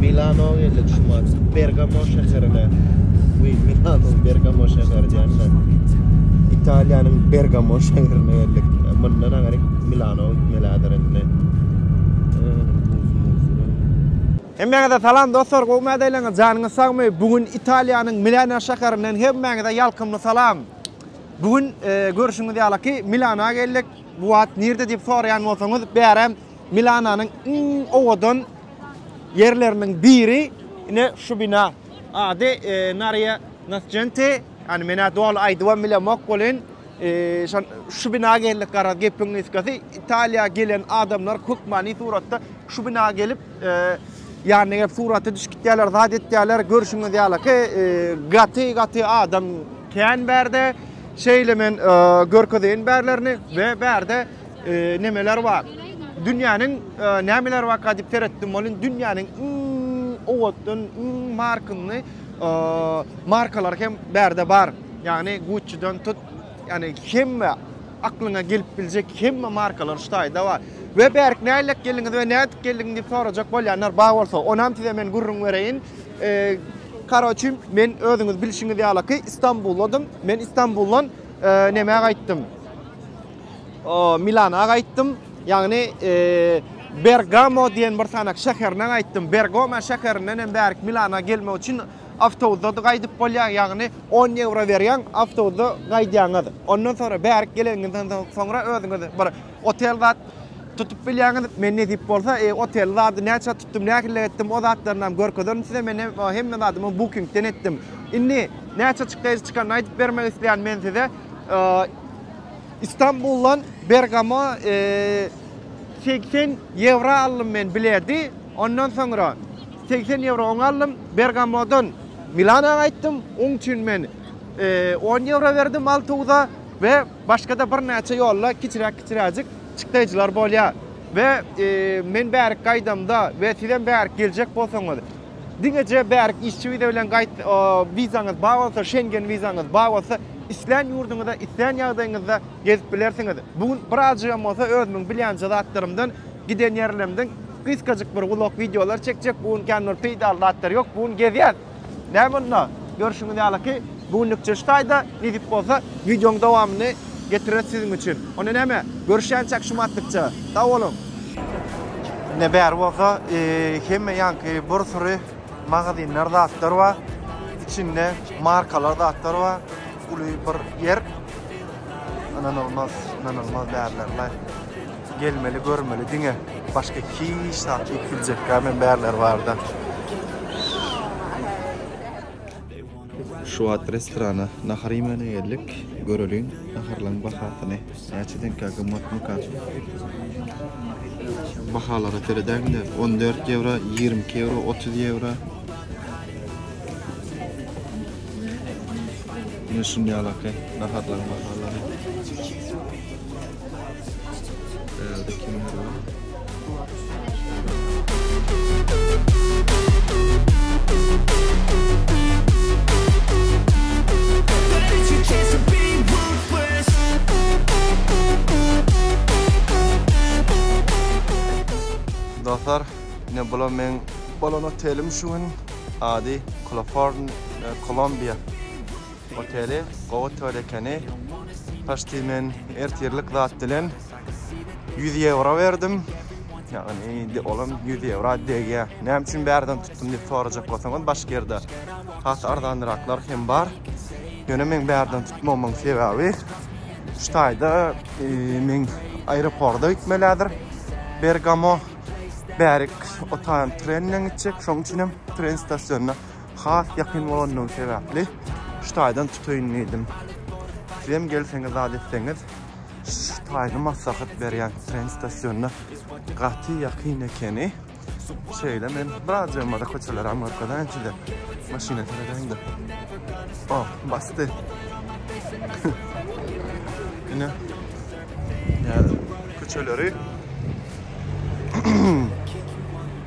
Milano geldik şu mat. Bergamo şäherine. Uy, Milano, Bergamo şäheri diýende. Italiýanyň Bergamo şäherine geldik. Mundan agary Milano gitmelidir indi. Hemmäňize salam dostlar, gowy mädeleňiz, janyňyz sagmy? Bu gün Italiýanyň Milano şäherinden hemmäňize ýalkymly salam. Bu gün görşüňiz ýalyky Milana geldik. Bu wagt nirde diýip soraýan bolsaňyz, bärem Milananyň iň owadan ýerleriniň biri ine şu bina. Ady Naria Nascente. Ýani men ä doly aýdybam bilemok welin, şu bina geldik garaz gepiň gysgasy. Italiýa gelen adamlar hökmany suratda şu bina gelip Ýanyna gelip surata düşüp gitýärler, zat etýärler. Görşüňiz ýalyky, gaty-gaty adam kän bärde. Şeýle men görkezeýin bärlerini we bärde nemeler bar. Dünýäniň nämeler barka diýip seretdim welin, dünýäniň iň owatdan, iň markynly markalary hem bärde bar. Ýagny Gucci-den tut, ýagny hemme aklyňa gelip biljek hemme markalar şu taýda bar. We bärik nälik geldiňiz we nädip geldiň diýip sorajak bolýanlar bar bolsa, onam size men gürrüň bereýin. Eee, karoçim, men özüňiz bilşiňiz ýalaky Istanbuldym. Men Istanbuldan eee, nämä gaýtdym? Eee, Milana gaýtdym. Ýagny, eee, Bergamo diýen bir sanak şäherine gaýtdym. Bergoma şäherinden hem bärik Milana gelmek üçin Awtobusda-da gaýdyp bolýar, ýagny on ýewro berýäň, awtobusda gaýdýaňyz. Ondan soňra bärik geleniňizden soňra özüňiz bir otel zat tutup bilýäňiz. Men nesip bolsa, oteli zady näçä tutdum, nähililik etdim, o zatlaryny hem görkezerin size. Men hem hemme zadymy Booking-den etdim. Indi näçe çykdajy çykanyny aýdyp bermek isleýän men size. Istanbuldan Bergama segsen ýewro aldym men bileti. Ondan soňra. Segsen ýewro oň aldym. Bergamodan Milana gaýtdym. Oň üçin men on ýewro berdim awtobusa we başga-da birnäçe ýolda kiçiräk-kiçiräjik çykdaýjylar bolýar. We men bärik gaýdamda we sizem bärik geljek bolsaňyz, diňeje bärik işçi wiza bilen gaýt, wizaňyz bar bolsa, Şengen wizaňyz bar bolsa, islän ýurduňyza, islän ýagdaýyňyzda gezip bilersiňiz. Bu gün birazjygam bolsa özümiň bilýänje zatlarymdan, giden ýerlerimden Gysgajyk bir vlog wideolar çekjek. Bu gün kän bir peýdaly zatlar ýok. Bu gün gezýäs. Näme onda? Görşüňiz ýaly ki, bu günlükçe şu taýda. Nesip bolsa, wideoň dowamyny getireris siziň üçin. Onda näme? Görüşýänçäk şu matlykça. Sag boluň! Ine bäri bolsa hemme ýanky bir süri magazinler zatlar bar. Içinde markalar zatlar bar. Uly bir ýer. Ynanylmaz, ynanylmaz bäriler-le. Gelmeli görmeli diňe başga hiç zat iýip biljekgäm hem bärler barda. Şu wagt restorana nahar iýmäne geldik. Göreliň naharlaryň bahasyny näçedenkä gymmatmyka. Bahalara seredäňde on dört ýewro, ýigrimi iki ýewro, otuz ýewro. Mine şunýalaky naharlaryň bahalary. Dostlar, ine bula men bolan otelim şu gün. Ady Clofarn Columbia. Oteli gowy toýly ekeni. Paşti men ertirlik zat bilen 100 ýewro berdim. Ýagny indi olam 100 ýewro degýä. Näme üçin bärden tutdum diýip sorajak bolsaňyz, başga ýerde has arzanraklar hem bar. Ýöne men bärden tutmamyň sebäbi şu taýda e, men aeroporta gitmelidir. Bergamo bärik otan trenden gitjek. Şoň üçin hem tren stasionyna has ýakyn bolandygy sebäpli şu taýdan tutaýyn diýdim. Sizem gelseňiz zat etseňiz şu taýyny maslahat berýän tren stasionyna gaty ýakyn ekeni. Şeýle men biraz ýolmada köçeler Amerikadan size maşyna seredäýin-de. Oh, basdy. Ine. Ýa köçeleri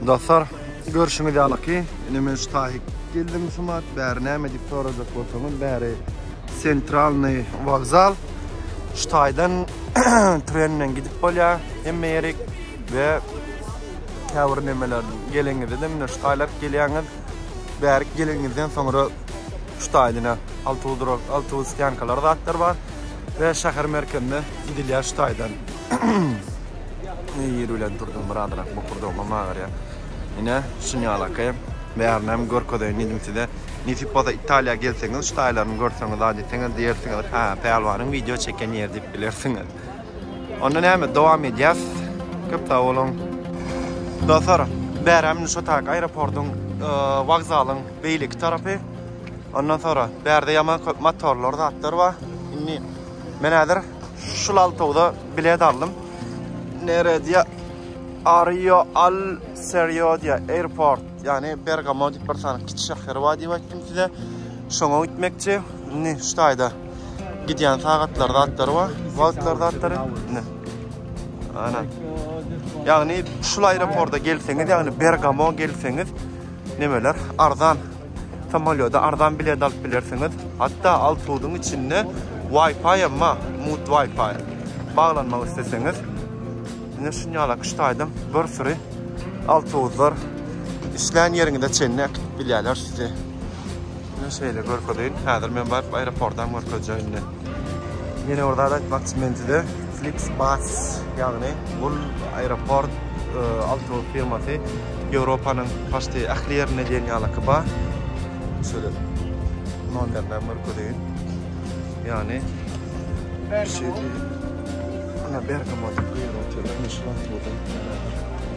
Dostlar, görşüňiz ýaly ki, ine men şu taýy geldim şumat, bäri näme diýip sorajak bolsaňyz, bäri Sentralny wokzal. Şu taýdan tren bilen gidip bolýar hemme ýerik we käbir nemeler gelenizde de mine şu taýlap gelýäňiz. Bärik gelenizden soňra şu taýdan awtobus durak, awtobus stýankalary zatlar bar we şäher merkezine gidilýär şu taýdan. Ýeri bilen durdum birazrak bokurdagym hem agyrýar. Ine şun ýalaky bärini hem görkezeýin diýdim size. Nesip bolsa Italiýa gelseňiz şu taýlaryny görseňiz zat etseňiz diýersiňiz. Hä, pälwanyň wideo çeken ýeri diýip bilersiňiz. Onda näme dowam edýäs. Köp sag boluň. Dostlar, bäräm şu taýak aeroportyň wokzalyň beýleki tarapy. Ondan sonra bärde ýaman köp motorlar zatlar bar. Indi men häzir Şu laltogda bilet aldym. Neredýa? Ario Al Seriodia Airport. Yani Bergamo diýip bir sany kiçi şäher bar diýip aýtdym size. Şoňa gitmekçi. Indi şu taýda gidýän sagatlar zatlar bar. Wagtlar zatlar. Indi. Ana. Ýagny şu aeroporta gelseňiz, ýagny Bergamo gelseňiz, nemeler arzan samolýoda arzan bilet alyp bilersiňiz. Hatda awtobusyň içinde Wi-Fi hem bar, mut Wi-Fi. Baglanmak isleseňiz, ine şunýala üç taýdan bir süri awtobuslar işlän ýeriňize çenli äkidip bilýärler sizi. Ine şeýle görkezeýin. Häzir men baryp aeroportam görkezjek indi. Ýene bir zat aýtmakçy men size. Flixbus, ýagny bul aeroport awtobus firmasy Ýewropanyň paçti ähli ýerinde diýen ýalyky bar. Şöyle nomerlerini görkezeýin. Ýagny Bergamo. Ana Bergamo diýip guýrugy otyr. Meşhur awtobus.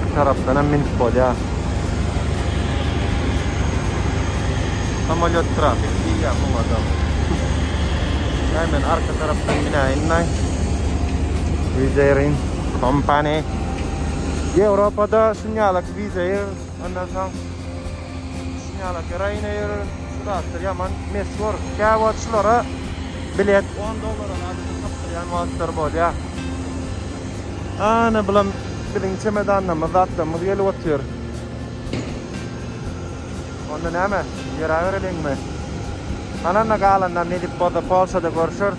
Bir tarapdan hem minip bolýar. Samolyot trafik diýýär muňa da. Näme men arka tarapdan minäýin-de. Vizerin kompaniýa. Ýewropada şunýaly vizeir, ondan soň şunýaly Ryanair, şu zatlar ýaman meşhur. Käwagt şulara bilet on dollara zadada tapdyrýan wagtlary bolýar. Ana bulam biziň çemedanlarymyz zatlarymyz gelip otyr. Onda näme? Ýöräbereliňmi? Ananda galanda nesip bolsa Polşada görüşeris.